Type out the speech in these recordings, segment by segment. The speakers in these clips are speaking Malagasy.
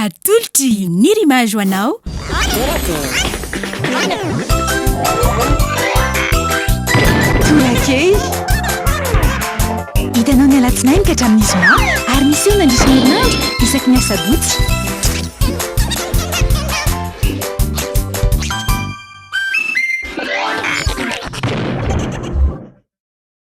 Atolotry ny Rimage ho anao. Tolakely. Hitanao ny alatsinainy ka hatramin'ny zoma ary miseho mandritra ny herinandro isaky ny asabotsy.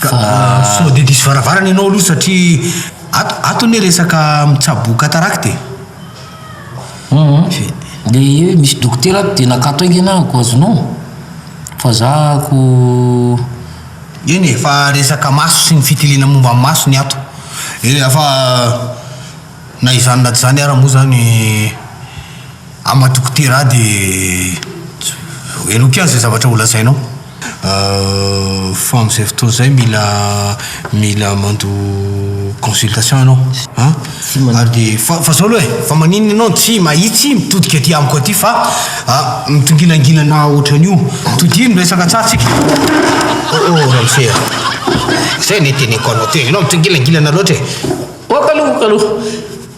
Ka sao dia diso varavarana ianao aloha satria ato ato anie resaka mitsabo cataracte e. Hum dia hoe misy dokotera ato dia nakato haingana aho ko azonao fa za ko. Eny e, fa resaka maso sy ny fitiliana momba ny maso ny ato e, fa na izany na tsy izany ara moa zany. Ama dokotera aho dia heloky aho izay zavatra ho lazainao fa amin'izay fotoana izay mila mila mandoa consultation ianao an! ary dia fa fa izao aloha e! fa maninona ianao no tsy mahitsy mitodika aty amiko aty fa mitongilangilana ohatran'io? todiho ny resaka tsatsika oh oh ramose a! izay anie teneniko anao teo ianao mitongilangilana loatra e! ok aloha ok aloha.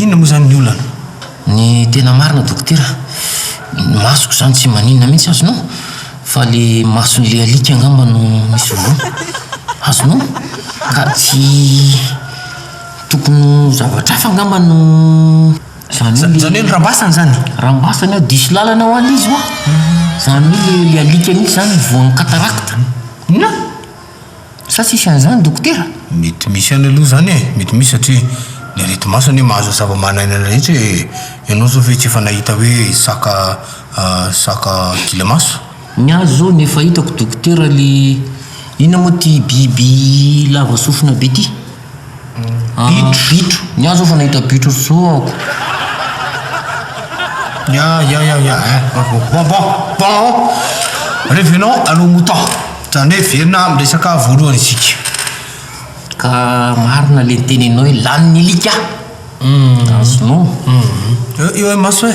Inona moa izany ny olana? Ny tena marina dokotera, ny masoko izany tsy maninona mihitsy azonao? Fa le mason'le alika angamba no misy voa, azonao? Ka tsy tokony ho zavatra hafa angamba no izany hoe le, izany hoe rambasany izany? Rambasany ao, diso lalana hoa le izy hoa, izany hoe le alika mihitsy izany no voan'ny cataracte, inona? Sa tsisy an'izany dokotera? Mety misy ihany aloha izany e, mety misy satria ny areti-maso anie mahazo zava-manan'aina rehetra e, ianao izao ve tsy efa nahita hoe saka saka gila maso? Ny ahy izao ny efa hitako dokotera le inona moa ity biby lava sofina be ity? Bitro. Bitro. Ny ahy zao vao nahita bitro ry zo aho. Ny ahy ya ya ya eh bon bon bon bon oh revenons à nos moutons zany hoe verina amin'ny resaka voalohany isika. Ka marina le niteneninao hoe lany ny alika a! Azonao. Eo eo imaso e.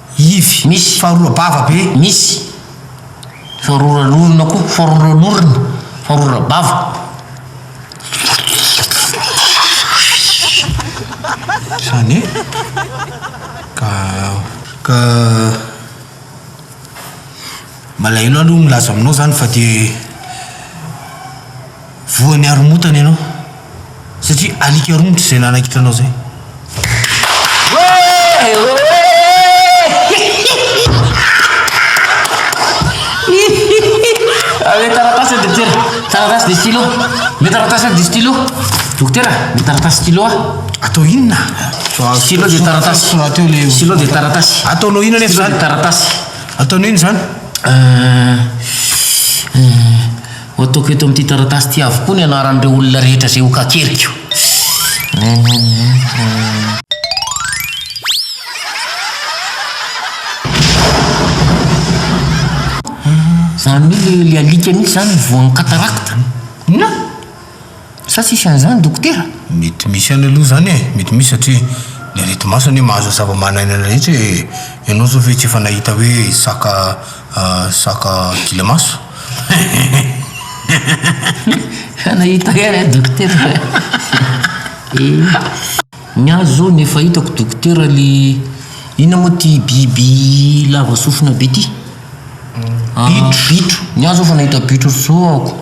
Ivy. Misy. Faharoa bava be. Misy. Faharoa ran'orona koa. Faharoa ran'orona. Faharoa rabava. Izany e. Ka. Ka. Malahelo aho aloha milaza aminao izany fa dia. Voan'ny haromotana ianao satria alika romotra izay nanaikitra anao izay. Ave taratasy dia tera, taratasy dia stylo, me taratasy dia stylo, dokotera me taratasy stylo ah. Atao inona? Stylo dia taratasy, stylo dia taratasy. Ataonao inona nefa izany? Taratasy. Ataonao inona izany? Ho ataoko eto amin'ity taratasy ity avokoa ny anaran'ireo olona rehetra izay ho kakeriko. Izany mi le alika mihitsy izany ny voan'ny cataracte? Inona? Sa tsisy an'izany dokotera? Mety misy ihany aloha izany e, mety misy satria ny areti-maso anie mahazo zava-manan'aina rehetra e, ianao izao ve tsy efa nahita hoe saka saka gilamaso? Efa nahita ihany aho dokotera e! Ny ahy izao ny efa hitako dokotera le inona moa ity biby lava sofina be ity? Bitro! Ny ahy izao efa nahita bitro roa aho.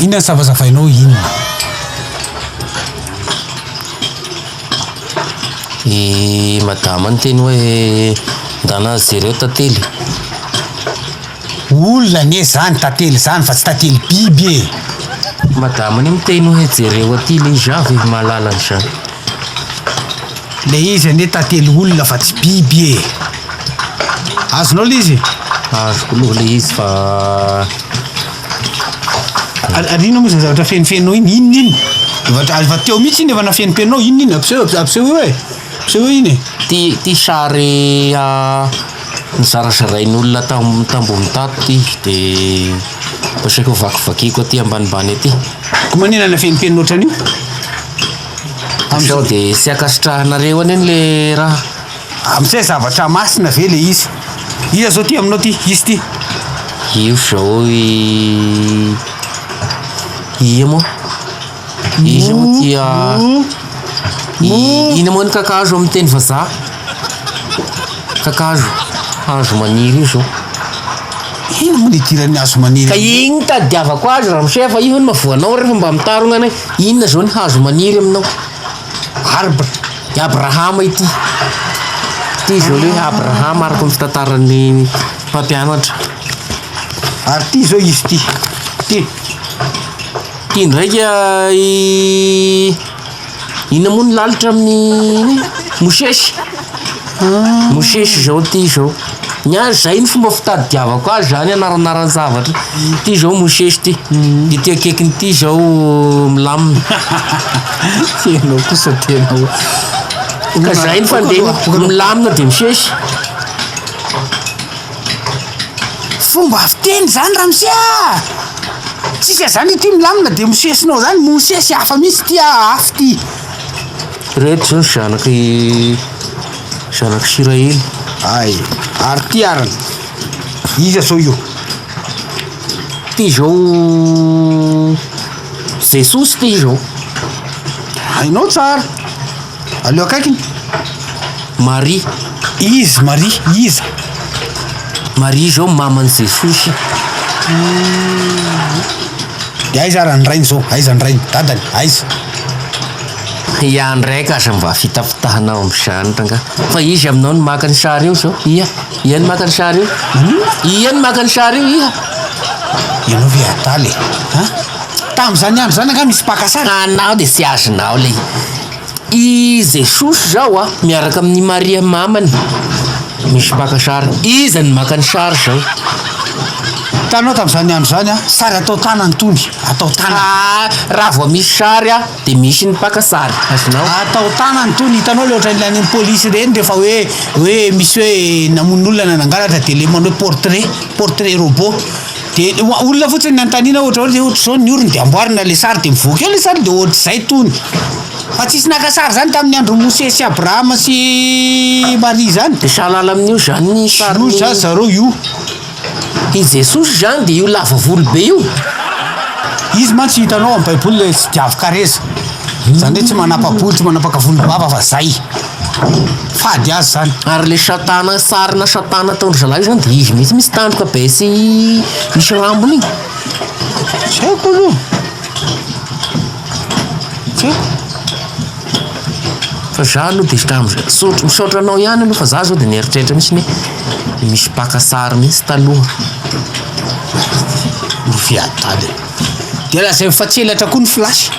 Inona ny savazavainao inona? I madama niteny hoe ndana jereo tantely. Olona anie zany tantely zany fa tsy tantely biby e! Madama anie miteny hoe jereo aty le iza ve ry mahalala an'izany. Le izy anie tantely olona fa tsy biby e! Azonao le izy? Azoko aloha le izy fa Ary ary inona moa izany zavatra fenofenonao iny? Inona iny? Efa t- efa teo mihitsy iny efa nafenimpenonao, inona iny? Ampiseho ampisehoy hoe, ampisehoy iny e! ty ty sary a Nozarazarain'olona tamin'ny tamboho mitato ity dia asaiko hovakivakiako aty ambanimbany aty. Koa manina ilay fenimpenina ohatran'io? Sao dia tsy ankasitrahanareo anie le raha. Amin'izay zavatra masina ve le izy? Iza zao ty aminao ty? Izy ty? Io zao i ia moa? Izy moa dia i- ina moa ny kakazo amin'ny teny vazaha? Kakazo, hazo maniry io zao. Ino moa ny idiran'ny hazo maniry Ka amin'io? iny no tadiavako azy ramose fa io hono mahavoanao refa mba mitarogna anay inona zao ny hazo maniry aminao arbre i abrahama ity ity zao le hoe abrahama araka ny fitantaran'ny mpampianatra Ary ty zao izy ty, ty. Ty ndraika i inona moa ny lalitra amin'ny mosesy? Mosesy zao ty zao. Ny ahy zay ny fomba fitadidiavako azy zany anaranaran-javatra. Ty zao mosesy ty. Ity akaikiny ty zao milamina. Ianao kosa tena o. Ka zay ny fandehany, milamina de misesy. Fomba fiteny zany ramose a! Tsika zany ity milamina de mosesinao zany mosesy hafa mihitsy ity a afo ity. Reto zao zanak' i zanak' Isiraely. Ay, ary ity arany. Iza zao io? Ty zao Jesosy ty zao. Hainao tsara. Aleo akaikiny. Maria. Izy, Maria, iza? Maria izao maman'i Jesosy. Dia aiza ary ny rainy izao? Aiza ny rainy? Dadany? Aiza? Ia ndray ka aza mba fitafitahana ao amin'izany rangahy. Fa iza aminao no maka ny sary eo izao? Ia? Ia no maka ny sary eo? Ia no maka ny sary eo? Ia? Ianao ve adala e? An? Tamin'izany andro izany angaha misy mpaka sary? Anao dia tsy azonao ilay izy. I Jesosy izao a, miaraka amin'i Maria mamany, misy mpaka sary. Iza no maka ny sary izao? Hitanao tamin'izany andro izany a, sary atao tanana itony, atao tanana. Ah, raha vao misy sary a, dia misy ny mpaka sary, azonao? Atao tanana itony, hitanao ilay ohatran'ilay any amin'ny polisy ireny rehefa hoe hoe misy hoe namono olona na nangalatra dia ilay manao hoe portrait, portrait robot. de olona fotsiny ny antanina ohatra hoe ohatra zao ny orony de amboarina le sary de mivoaka eo le sary de ohatr'izay tony fa tsisy naka sary zany tamin'ny andro Mosesy sy Abrahama sy Maria zany de sahalala amin'io zany ny sary io zany zareo io i Jesosy zany de io lava volo be io izy mantsy hitanao amin'ny baiboly le tsy diavin-kareza zany hoe tsy manapa-bolo tsy manapaka volom-bava fa zay fady azy zany. Ary le satana sarina satana ataondry zalahy io zany de izy mihitsy misy tandroka be sy misy rambony igny. Tsy haiko aloha. Tsy haiko. Fa za aloha de tam sotro misaotra anao ihany aloha fa za zao de nieritreritra mihitsy ny hoe misy mpaka sary mihitsy taloha. Ny fiadana. De lazainy fa tsy elatra koa ny flash.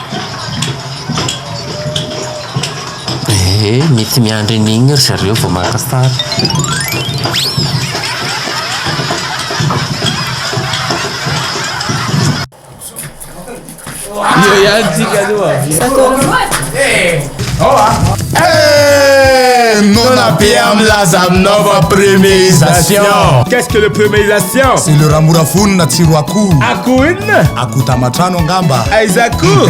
Ee, mety miandry an'igny ry zareo vao maka sary. Hey! Nona be am laza aminao fa premierisation Qu'est-ce que le premierisation? C'est le ramora vonona tsiro akoho Akoho inona? Akoho tamatrano angamba Aiza akoho?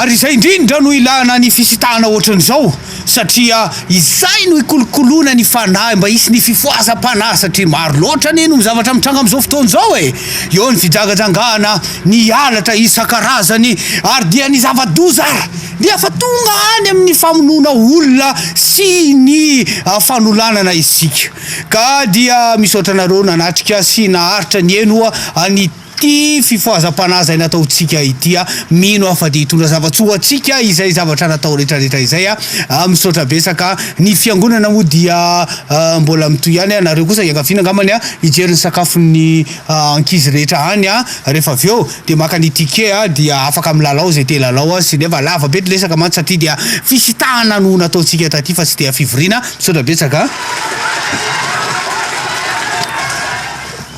Ary izay indrindra no ilana ny fisitahana ohatran'izao satria izay no ikolokoloana ny fanahy mba hisy ny fifohazam-panahy satria maro loatra anie no zavatra mitranga amin'izao fotoana izao e! eo ny fijangajangana, ny halatra isan-karazany ary dia ny zava-doza ary dia efa tonga any amin'ny famonoana olona sy ny fanolanana isika ka dia misaotra anareo nanatrika sy naharitra nihenoa ny Ity fifohazam-panahy izay nataontsika ity aho mino aho fa dia hitondra zava-tsoa ho antsika izay zavatra natao retraretra izay aho. Misaotra betsaka. Ny fiangonana moa dia mbola mitohy ihany aho. Nareo kosa iangaviana angambany hijery ny sakafon'ny ankizy rehetra any rehefa avy eo dia maka ny ticket dia afaka milalao izay te hilalao sy nefa lava be ny resaka mantsy satria dia fisitahana no nataontsika taty fa tsy dia fivoriana. Misaotra betsaka.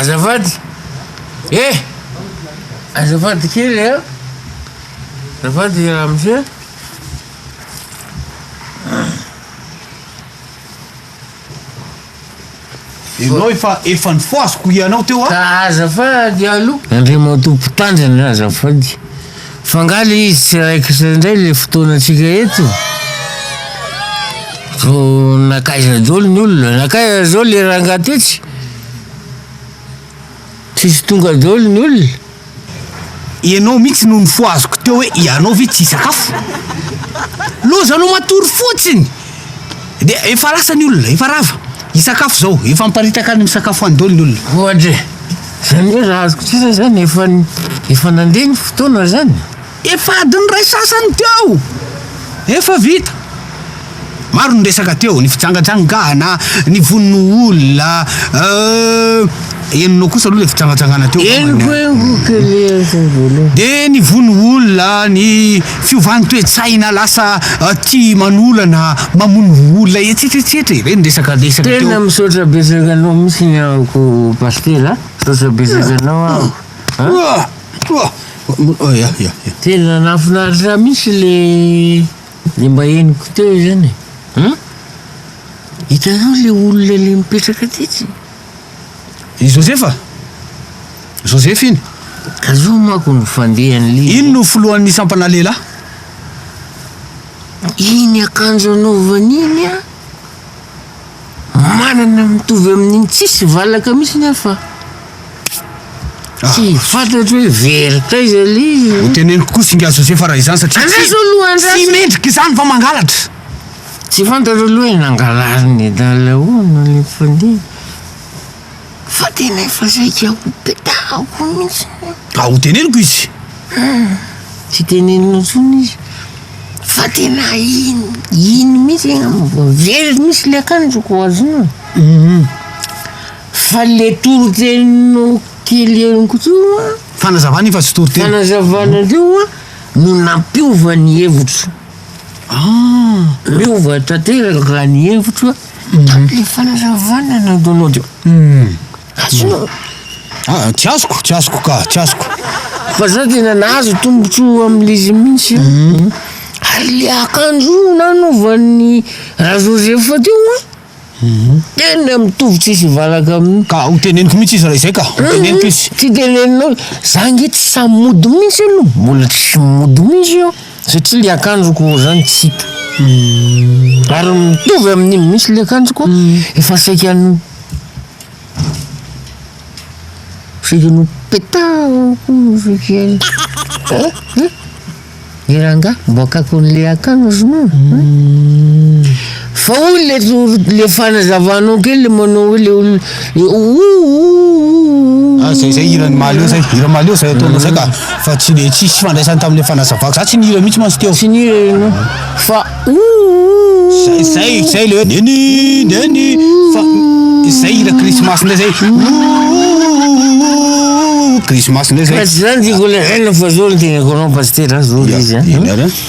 Azafady e! Azafady kely a! Azafady ramose. Enao efa efa nifohaziko hianao teo a. Ka azafady aloha. Andriamatoa Mpitandrina azafady fa nga le izy tsy raikitra indray le fotoanantsika eto? Vao nakaiza dolo ny olona? Nakaiza zao le rangah tetsy? Tsisy tonga daholo ny olona? Ianao mihitsy no nifohaziko teo hoe ianao ve tsy hisakafo? Lozanao matory fotsiny! Dia efa lasa ny olona, efa rava. Hisakafo izao, efa miparitaka any misakafo any daholo ny olona. Ohatra e! Izany hoe raha azoko tsara izany efa efa nandeha ny fotoana izany? Efa adin'ny iray sasany teo. Efa vita. Maro ny resaka teo, ny fijangajangana, ny vono olona, euh, henonao kosa aloha le fijangajangana teo. Henoko henoko kely aza voalohany. De ny vono olona, ny fiovan'ny toe-tsaina lasa euh, tia manolana, mamono olona etsetra etsetra e. Reny ny resaka resaka teo. Tena misaotra betsaka anao mihitsy ny ahako Pasitera, misaotra betsaka anao ahako. Ah. Tena nahafinaritra mihitsy le le mba henoko teo izany e. An? Hitanao le olona le mipetraka tetsy? I Joseph? Joseph iny? Ka zao manko ny fandehan'ilay izy. Iny no filohan'ny sampana lehilahy. Iny akanjo anaovany iny an! Manana mitovy amin'iny tsisy valaka mihitsy ny aho fa tsy fantatro hoe very taiza le izy. Ho teneniko koa singa Josefa raha izany satria tsy Andraso aloha, andraso. tsy mendrika izany fa mangalatra. Tsy fantatro aloha hoe nangalariny dahalo ahoana le mpandeha. Fa tena efa saika ho petahako mihitsy ny. Ka ho teneniko izy. Hum, tsy teneninao intsony izy. Fa tena iny, iny mihitsy angamba very mihitsy le akanjoko azonao e. Hum. Fa le toriteninao kely henoko teo a. Fanazavana iny fa tsy toriteny. Fanazavana teo a no nampiova ny hevitro. Ah! Miova tanteraka ny hevitro a. Ny fanazavana na download io. Azonao. Ah, tsy azoko, tsy azoko ka, tsy azoko. Fa za tena nahazo tombotsoa amle izy mintsy a. Mhm. Ary le akanjo io nanaovan'ny Ra Joseph teo a, mhm. tena mitovy tsisy hivalaka aminy. Ka ho teneniko mintsy izy raha izay ka, ho mhm. teneniko izy. Tsy teneninao, za nge tsy sahy mody mintsy aloha, mbola tsy mody mintsy io. Satria le akanjoko zany tsy hita ary mitovy amin'iny mihitsy le akanjoko efa saiky an'o saiky an'o petaho koa saiky an eh eh le rangahy boakako an'le akanjoko. Fa hoy le le fanazavanao kely le manao hoe le olona le ooh. Ah zay zay hiran'i Malio zay, hira Malio zay ataonao zay ka. Fa tsy le tsisy fifandraisany tamin'le fanazavako, za tsy nihira mihitsy mantsy teo. Tsy nihira ianao fa ooh. Zay zay zay le hoe neny neny fa zay hira krismasy ndray zay ooh krismasy ndray zay. Fa tsy zany ty kolera, eh fa zao le tenekoanao pasitera zao le izy a.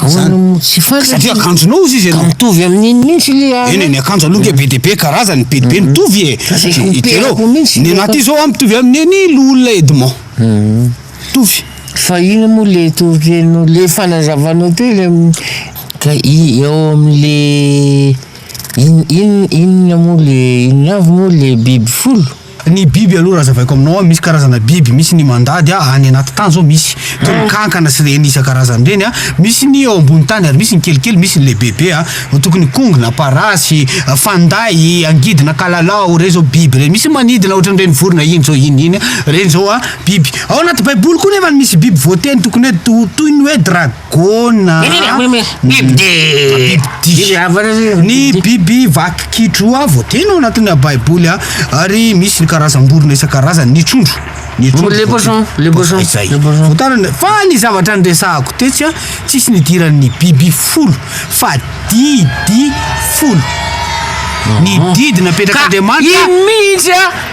Ahoana no tsy fantatra? Satria akanjonao hozy izy ianao. Ka mitovy amin'iny mihitsy le ary. Eny e, ny akanjo aloha nge be dia be karazany, be dia be mitovy e. Hitanao? Ny anaty izao an, mitovy amin'ny an'i Loholona Edmond. Mitovy. Fa inona moa le toriteny, le fanazavanao teo le ka i- eo amin'le in- in- inona moa le inona avy moa le biby folo? Ny biby aloha raha azavaiko aminao an, misy karazana biby, misy ny mandady an, any anaty tany zao misy, toy ny kankana sy ireny isan-karazany ireny an, misy ny eo ambony tany ary misy ny kelikely, misy ny lehibebe an, toky ny kongona, parasy, fanday, angidina, kalalao, ireny zao biby ireny, misy ny manidina ohatran'ireny vorona iny zao iny iny, ireny zao an biby, ao anaty baiboly koa nefa misy biby voateny tokony hoe toy ny hoe dra-. gôna ny biby vaky kitro a voateny ao anatina baiboly a ary misy ny karazam-borona isan-karazany ny trondro ny trondrovoatarana fa ny zavatra nyresahako tetsy a tsisy nidiran'ny biby folo fa didy folo ny didy napetraka andriamanitra mihitsy a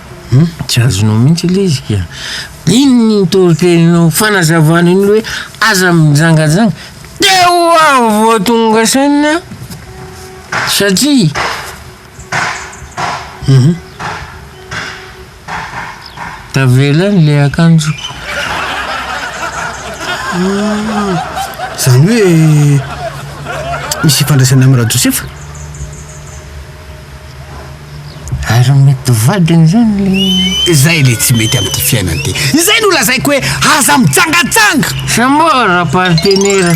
Hum, tsy azonao mihitsy ilay izy ka. Iny ny toriteninao fanazavana iny hoe aza mijangajanga teo aho vao tonga saina satria hum tavela ny le akanjoko. Zany hoe misy ifandraisany am Rajosefa? Ary mety ho vadiny izany ilay. Izay ilay tsy mety amin'ity fiainana ity. Izay no lazaiko hoe aza mijangajanga! Sa moa rapartenera.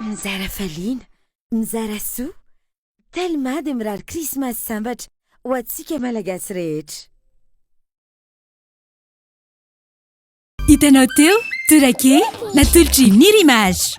Mizara faliana, mizara soa, Telma dia mirary krismasy sambatra ho antsika Malagasy rehetra. Hitanao teo, tourake, natolotry Mir'Image.